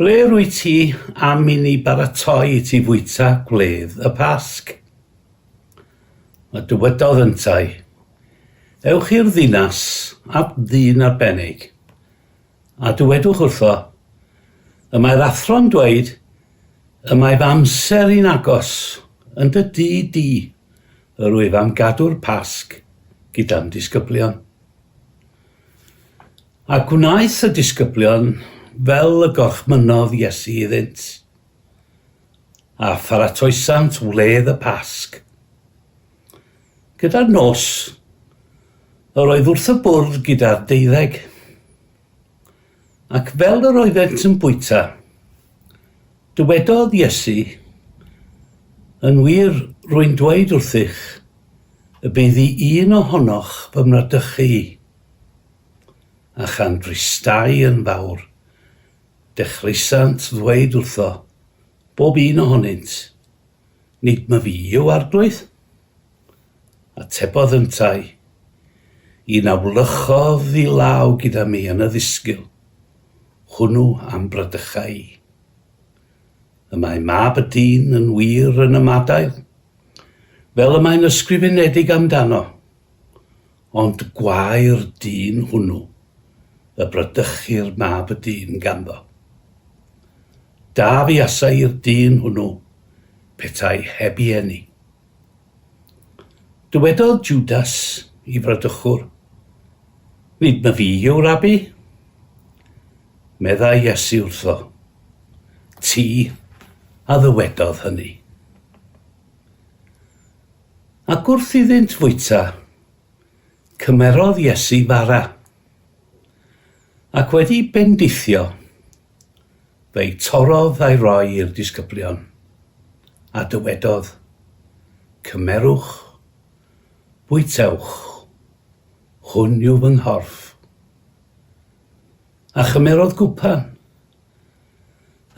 Ble rwyt ti am i ni baratoi i ti fwyta gwledd y Pasg? A dywedodd yntau, Ewch i'r ddinas at ddyn arbennig, a dywedwch wrtho, Y mae'r athro'n dweud, Y mae fy amser i'n agos, yn dy dŷ di, yr wyf am gadw'r Pasg gyda'n disgyblion. A gwnaeth y disgyblion fel y gorchmynnodd Iesu iddynt, a pharatoesant wledd y Pasg. Gyda'r nos, yr oedd wrth y bwrdd gyda'r deuddeg, ac fel yr oeddent yn bwyta, dywedodd Iesu, Yn wir, rwy'n dweud wrthych, y bydd i un ohonoch fy mradychu i. a chan fristai yn fawr, dechreuasant ddweyd wrtho, bob un ohonynt, Nid ma fi yw Arglwydd? Atebodd yntau, Un a wlychodd i law gyda mi yn y ddisgyl, hwnnw a'm bradycha i. Y mae Mab y dyn yn wir yn ymadael, fel y mae'n ysgrifenedig amdano, Ond gwau'r dyn hwnnw y bradychu'r mab y dyn ganddo. Da fuasai i'r dyn hwnnw petai heb i eni. Dywedodd Jwdas i fradychwr, Nid na fi yw Rabi? Meddai Iesu wrtho, Ti a ddywedodd hynny. Ac wrth iddynt fwyta, cymerodd Iesu fara, ac wedi bendithio, fe'i torrodd a'i roi i'r disgyblion, a dywedodd, Cymerwch, bwytewch, hwn yw fy nghorff. A chymerodd gwpan,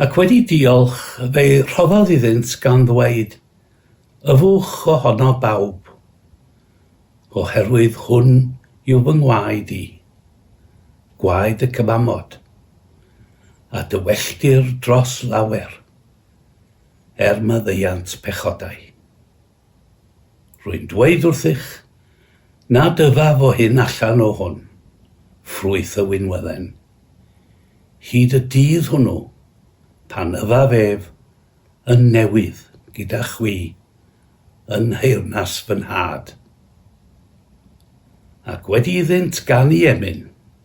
Ac wedi diolch, fe rhoddodd iddynt gan ddweyd, Yfwch o hono bawb, oherwydd hwn yw fy ngwaed i, gwaed y cymamod, a dywelltir dros lawer, er maddeuant pechodau. Rwy'n dweud wrthych, na dyfaf o hyn allan o hwn, ffrwyth y winwedden. Hyd y dydd hwnnw, pan yfaf ef yn newydd gyda chwi yn nheyrnas fy nhad, ac wedi iddynt ganu emyn,